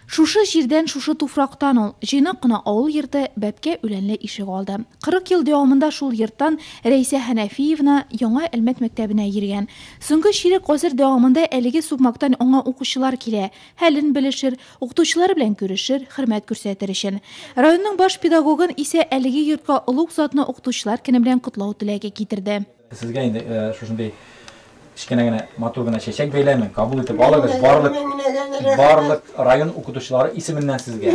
Шушы җирдән, шушы туфрактан ул, җыйнак кына авыл йорты, бәбкә үләнле ишек алды. Кырык ел дәвамында шул йорттан Рәйсә Хәнәфиевна Яңа Әлмәт мәктәбенә йөргән. Соңгы чирек гасыр дәвамында әлеге сукмактан аңа укучылар килә, хәлен белешер, укытучылары белән күрешер, хөрмәт күрсәтер өчен. Районның баш педагогын исә әлеге йортка олуг затны Укытучылар көне белән котлау теләге китерде. Сезгә инде шушындый кечкенә генә матур гына чәчәк бәйләмен, кабул итеп алыгыз, барлык барлык район укытучылары исеменнән сезгә.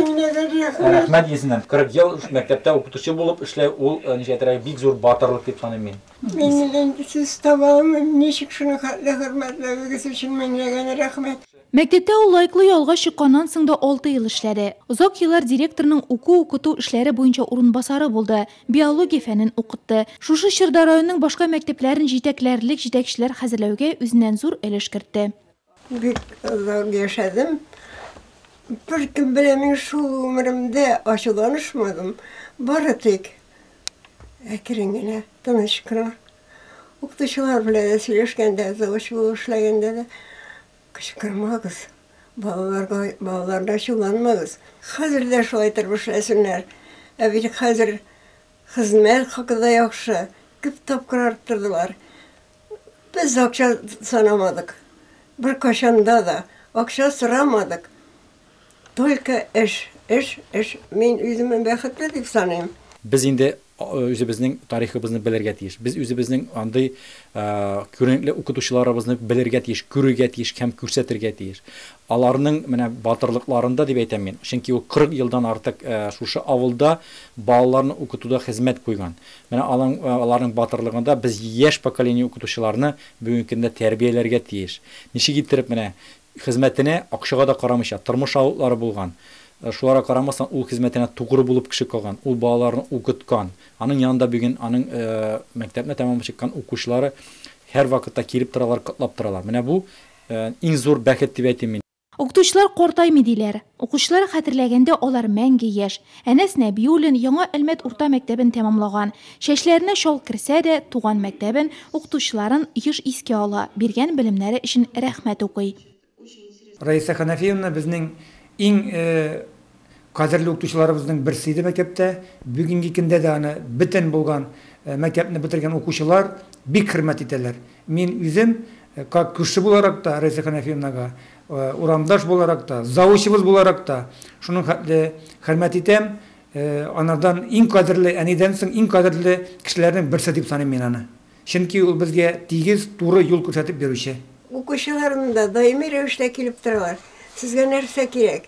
Рәхмәт исеннән. 40 ел мәктәптә укытучы булып эшләү ул ничәтәрәк бик зур батырлык дип саныйм мин. Мин инде сүз таба алмыйм, ничек шуны хәтле хөрмәтләвегез өчен меңләгән рәхмәт. Мәктәптә ул лайклы ялга чыкканнан соң да алты ел эшләде. Озак еллар директорның уку-укыту эшләре буенча урынбасары булды, биология фәнен укытты. Шушы чорда районның башка мәктәпләрен җитәкләрлек җитәкчеләр хәзерләүгә үзеннән зур өлеш кертте. Бик озак яшәдем. Беркем белән мин шул гомеремдә ачуланышмадым. Бары тик әкрен генә, тыныч кына. Укытучылар белән дә сөйләшкәндә, завуч булып эшләгәндә дә, Кычкырмагыз, балаларга, балаларны ачуланмагыз. Хәзер дә шулай итеп эшләсеннәр. Ә бит хәзер хезмәт хакы да яхшы, күп тапкыр арттырдылар. Без акча санамадык, беркайчан да да акча сорамадык. Только эш, эш, эш. Мин үземне бәхетле дип саныйм. Без инде Үзебезнең тарихыбызны белергә тиеш. Без үзебезнең андый күренекле укытучыларыбызны белергә тиеш, күрергә тиеш һәм күрсәтергә тиеш. Аларның менә батырлыкларында дип әйтәм мин, чөнки ул 40 елдан артык шушы авылда балаларны укытуда хезмәт куйган. Менә аның, аларның батырлыгында без яшь поколение укытучыларны бүгенге көндә тәрбияләргә тиеш. Ничек иттереп менә Хезмәтенә акчага да карамыйча, тормыш авылтлары булган. Шуларга карамастан, ул хезмәтенә тугры булып кеше калган, ул балаларны укыткан. Аның янында бүген аның мәктәпне тәмамлап чыккан укучылары һәрвакытта килеп торалар, котлап торалар. Менә бу, иң зур бәхет дип әйтим мин. Укытучылар картаймый диләр. Укучылар хәтерләгәндә, алар мәңге яшь. Әнәс Нәбиуллин Яңа Әлмәт урта мәктәбен тәмамлаган. Чәчләренә чал керсә дә, туган мәктәбен, укытучыларын еш искә ала, биргән белемнәре өчен рәхмәт укый. Раиса Ханафиевна безнең иң кадерле укытучыларыбызның берсе иде мәктәптә. Бүгенге көндә дә аны бөтен булган мәктәпне бетергән укучылар бик хөрмәт итәләр. Мин үзем, как күрше буларак та, Раиса Ханафиевнага Урамдаш буларак та, заучыбыз буларак та шуның хәтле хөрмәт итәм. Анардан иң кадерле, әнидән соң иң кадерле кешеләрнең берсе дип саныйм мин аны. Чөнки ул безгә тигез, туры юл күрсәтеп йөрүче. Укучыларым да даими рәвештә килеп торалар. Сезгә нәрсә кирәк?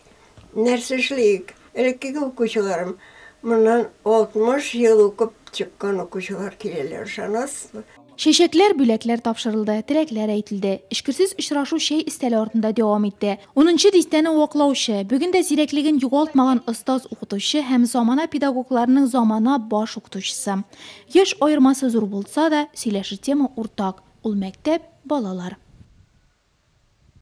Нәрсә эшлик? Элеккеге укучыларым, моннан 60 ел укып чыккан укучылар киләләр, ышанасызмы? Чәчәкләр, бүләкләр тапшырылды, теләкләр әйтелде. Эчкерсез очрашу чәй өстәле артында дәвам итте. Унынчы дистәне ваклаучы, бүген дә зирәклеген югалтмаган остаз-укытучы һәм замана педагогларының замана баш укытучысы. Яшь аермасы зур булса да, сөйләшер тема уртак, ул мәктәп, балалар.